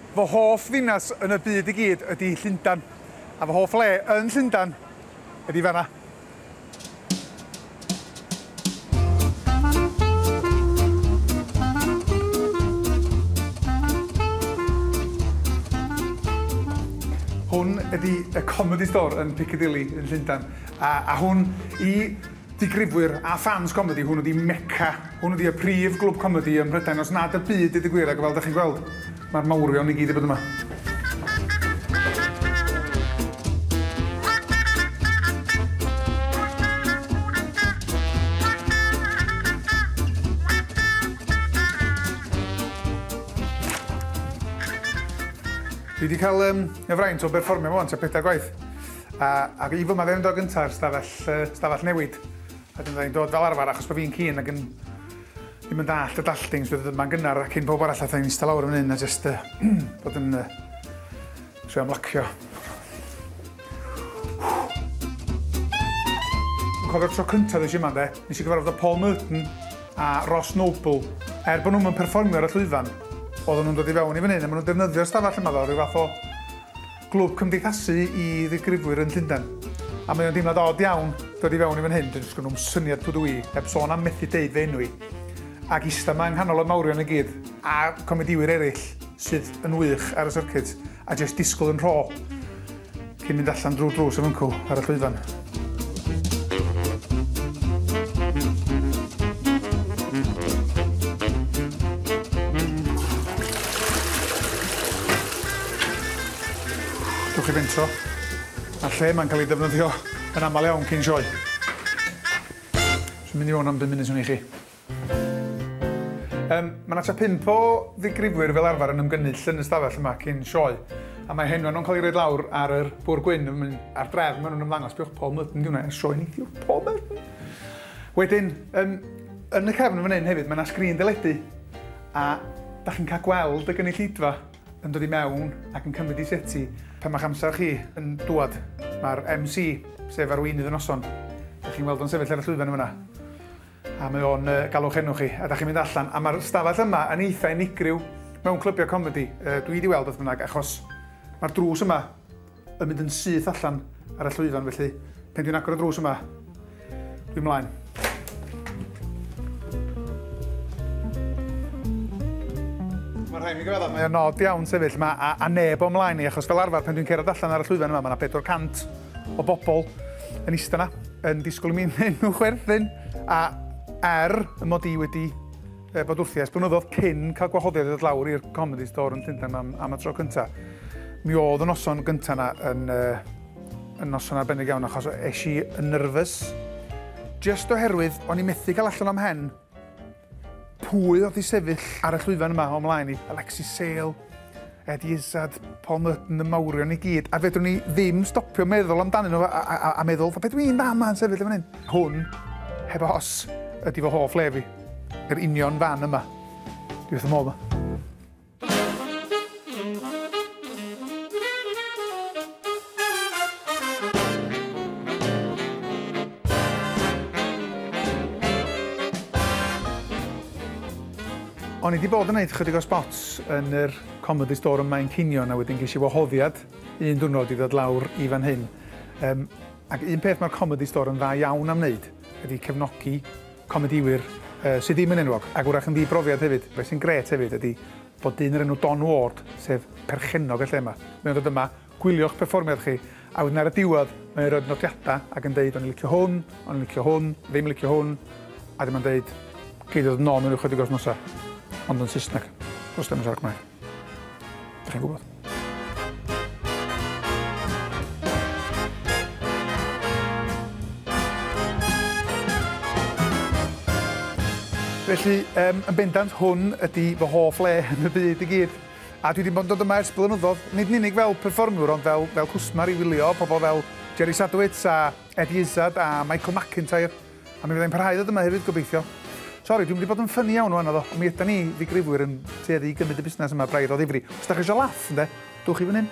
Fy hoff ddinas yn y byd i gyd ydi Llundan, a fy hoff le yn Llundan ydi fan'na. Hwn ydi y Comedy Store yn Piccadilly yn Llundan, a hwn i Digrifwyr a ffans comedi, hwn ydi Mecca. Hwn ydi y prif glwb comedi ym Mhrydain os nad y byd deud y gwir ac fel dach chi'n gweld mae'r mawrion i gyd wedi bod yma. Dwi 'di cael yym y fraint o berfformio 'ma 'wan tua pedair gwaith. A a fi fy maddeuwndod gynta yr stafell yy stafell newid. A dyna ni'n dod fel arfer achos bod fi'n keen ag yn ddim yn dallt y dalltings fydd yma'n gynnar a cyn pawb arall a thai'n ista lawr yn hyn a jyst uh, bod yn uh, trio ymlacio. Cofio'r tro cyntaf ddys yma de, nes i gyfarfod o Paul Merton a Ross Noble. Er bod nhw'n yn perfformio ar y llwyfan, oedden nhw'n dod i fewn i fan hyn a maen nhw'n defnyddio'r stafell yma fel rhyw fath o Glwb cymdeithasu i ddigrifwyr yn Llundain. A mae o'n deimlad od iawn dod i fewn i fan hyn, dyn sgyn nhw'm syniad pw dw i, heb sôn am methu deud fy enw i. Ac ista ma yng nghanol y mawrion i gyd, a comediwyr eraill sydd yn wych ar y syrcit, a jest disgwl yn rho cyn mynd allan drw'r drws a fyncw ar y llwyfan. Dewch i fentro. A'r lle mae'n cael ei defnyddio yn aml iawn cyn sioe. Dwi'n mynd i mewn am bum munud swn i chi. Yym, mae 'na tua pump o ddigrifwyr fel arfer yn ymgynnull yn y stafell yma cyn sioe, a mae henwa nhw'n cael ei roed lawr ar yr bwr gwyn yn mynd ar drefn, maen nhw'n ymddangos, biwch Paul Merton diwna i'r sioe ni, diwch Paul Merton! Wedyn, yn, yn y cefn yn fan hyn hefyd, mae 'na sgrin deledu, a da chi'n cael gweld y gynulleidfa yn dod i mewn ac yn cymryd i seti pan mae'ch amser chi yn dŵad. Mae'r MC, sef arweinydd y noson, da chi'n weld o'n sefyll ar y llwyfan yn fanna. A mae o'n yy galw'ch enw chi a 'dach chi'n mynd allan a ma'r stafell yma yn eitha unigryw mewn clybiau comedi yy dwi 'di weld beth bynnag achos ma'r drws yma yn mynd yn syth allan ar y llwyfan felly pan dwi'n agor y drws yma dwi mlaen. Mae rhaid mi gyfadda' mae o'n od iawn sefyll yma a a neb o'm mlaen i achos fel arfer pan dwi'n cerdded allan ar y llwyfan yma ma' 'na 400 o bobl yn eistedd yna, yn disgwyl i mi wneud nhw chwerthin, a er y mod i wedi bod wrthi ers blynyddoedd cyn cael gwahoddiad i ddod lawr i'r Comedy Store yn Llundain am, am y tro cyntaf, mi oedd y noson gyntaf yna yn, uh, yn noson arbennig iawn achos eisiau yn nyrfys. Just oherwydd o'n i methu cael allan o'm hen Pwy oedd i sefyll ar y llwyfan yma o'm mlaen i? Alexis Sale, Ed Izzard, Paul Merton, y mawrion i gyd, a fedrwn ni ddim stopio meddwl amdanyn nhw a, a, a, a meddwl, fe dwi'n fan ma'n sefyll yn fan hyn. Hwn, heb os, ydy fy hoff le fi. Yr union fan yma. Dwi wrth fy modd yma. O'n i wedi bod yn gwneud chydig o spots yn yr Comedy Store yma yn cinio a wedyn ges i wahoddiad un diwrnod i ddod lawr i fan hyn. Um, ac un peth mae'r Comedy Store yn dda iawn am wneud ydy cefnogi comedïwyr sy ddim yn enwog, ac wrach yn ddi-brofiad hefyd. Be sy'n grêt hefyd ydi bod dyn o'r enw Don Ward, sef perchennog y lle 'ma, mae o'n dod yma, gwylio'ch perfformiad chi, a wedyn ar y diwedd mae o'n rhoid nodiadau ac yn deud 'o'n i'n licio hwn, o'n i'n licio hwn, ddim yn licio hwn', a wedyn mae'n deud 'gei di ddod nôl mewn ychydig o wythnosau, ond yn Saesneg, does dim yn siarad Cymraeg. Dych chi'n gwybod? Felly, um, yn bendant, hwn ydy fy hoff le yn y byd i gyd. A dwi wedi bod yn dod yma ers blynyddoedd, nid yn unig fel performwr, ond fel, fel cwsmer i wylio pobl fel Jerry Sadowitz a Eddie Izzard a Michael McIntyre. A mi fydda i'n parhau i ddod yma hefyd, gobeithio. Sori, dwi'n mynd i bod yn ffynnu iawn o anodd o. Mi ydan ni, ddigrifwyr, yn tueddu i gymryd y busnes yma braidd o ddifri. Os da chi eisiau laff, ynde, dwch i fan hyn.